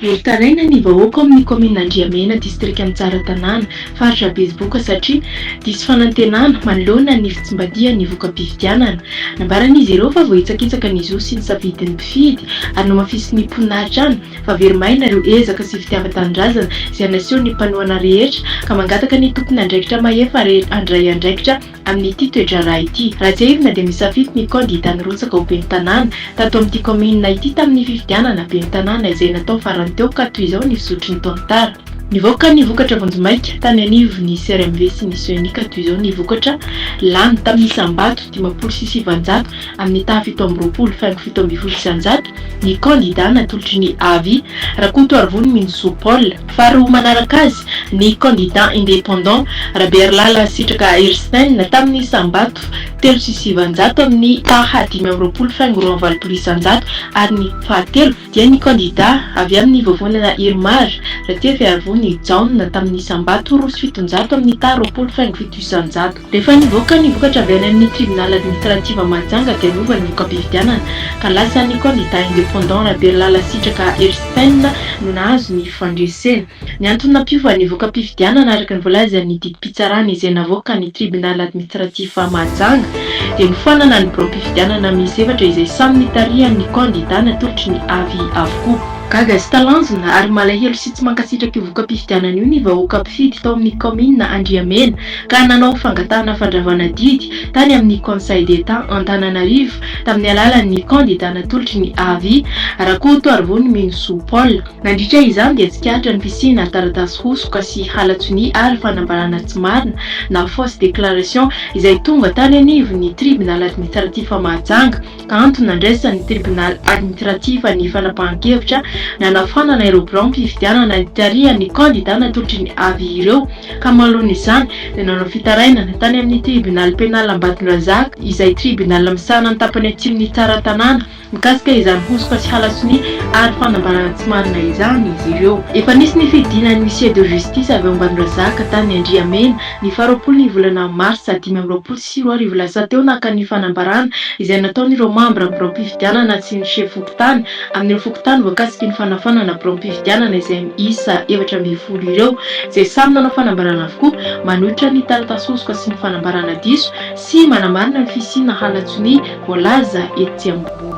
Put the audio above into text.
Velon-taraina ny vahoaka ao amin'ny kaominina Andriamena, distrikan'i Tsaratanàna, faritra Betsiboka satria diso fanantenana manoloana ny fitsimbadihan'ny voka-pifidianana. Nambaran'izy ireo fa voahitsakitsaka ny zo sy ny safidin'ny. Fidy ary namafisin'ny mponina hatrany fa very maina ireo ezaka sy fitiavan-tanindrazana izay nasehon'ny mpanohana rehetra ka mangataka ny tompon'andraikitra mahefa rehetra handray andraikitra amin'ity toe-draharaha ity. Raha tsiahivina dia misafidy ny kandida nirotsaka ho ben'ny tanàna tato amin'ity kaominina ity tamin'ny fifidianana ben'ny tanàna izay natao farany teo ka toy izao ny fizotry ny tantara. Nivoaka ny vokatra vonjimaika tany anivon'ny CRMV sy ny Sonic ato izao ny vokatra lany tamin'ny isam-bato dimampolo sy sivinjato amin'ny taha fito amby roapolo faingo fito ambin'ny folo isan-jato ny kandidà natolotry ny Avy, Rakotoarivony Minzo Paul. Faharoa manaraka azy ny kandidà independant Rabearilala Sitraka Erstein tamin'ny isam-bato telo sy sivinjato amin'ny taha dimy amby roapolo faingo roa amby valopolo isan-jato ary ny fahatelo dia ny kandidà avy amin'ny vovonana Irmar, Ratiafiarivony Jaona, tamin'ny isam-bato roa sy fitonjato amin'ny taha roapolo faingo fito isan-jato. Rehefa nivoaka ny vokatra avy any amin'ny Tribunal Administrative Mahajanga dia lova ny voka-pifidianana ka lasa ny kandidà independant Raberilala Sitraka Erstphen no nahazo ny fandresena. Ny antony nampiova ny voka-pifidianana araka ny voalazan'ny didim-pitsarana izay navoakan'ny Tribunal Admitratif Mahajanga dia nofoanana ny biraom-pifidianana miisa efatra izay samy nitarihan'ny kandidà natolotry ny avi avokoa. Gaga sy talanjona ary malahelo sy tsy mankasitraka io voka-pifidianana io ny vahoaka mpifidy tao amin'ny kaominina Andriamena ka nanao fangatahana fandravana didy tany amin'ny Conseil d'Etat Antananarivo tamin'ny alalan'ny kandidà natolotry ny avi, Rakotoarivony Minosoa Paul. Nandritra izany dia tsikaritra ny fisiana taratasy hosoka sy halatsonia ary fanambarana tsy marina na fausse déclaration izay tonga tany anivon'ny Tribunal Administratif Mahajanga ka antony nandraisan'ny Tribunal Administratif ny fanapahan-kevitra nanafànana ireo biraom-pifidianana nitarihan'ny kandida natolotry ny avis ireo ka mahaloana izany dia nanao fitarainana tany amin'ny Tribunal Pénal Ambatondrazaka izay Tribunal misahana ny tapany atsimon'i Tsaratanàna mikasika izany hosoka sy halasonia ary fanambarana tsy marina izany izy ireo. Efa nisy ny fidinan'ny huissier de justice avy ao Ambanondrazaka tany Andriamena, ny faharoapolo ny volana marsa dimy amby roapolo sy roa arivo lasa teo naka ny fanambarana izay nataon'ireo mambra biraom-pifidianana sy ny sefom-pokontany amin'ireo fokontany voakasiky ny fanafanana biraom-pifidianana izay miisa efatra ambin'ny folo ireo izay samy nanao fanambarana avokoa manohitra ny taratasy hosoka sy ny fanambarana diso sy manamarina ny fisiana halatsonia Voalaza etsy ambony.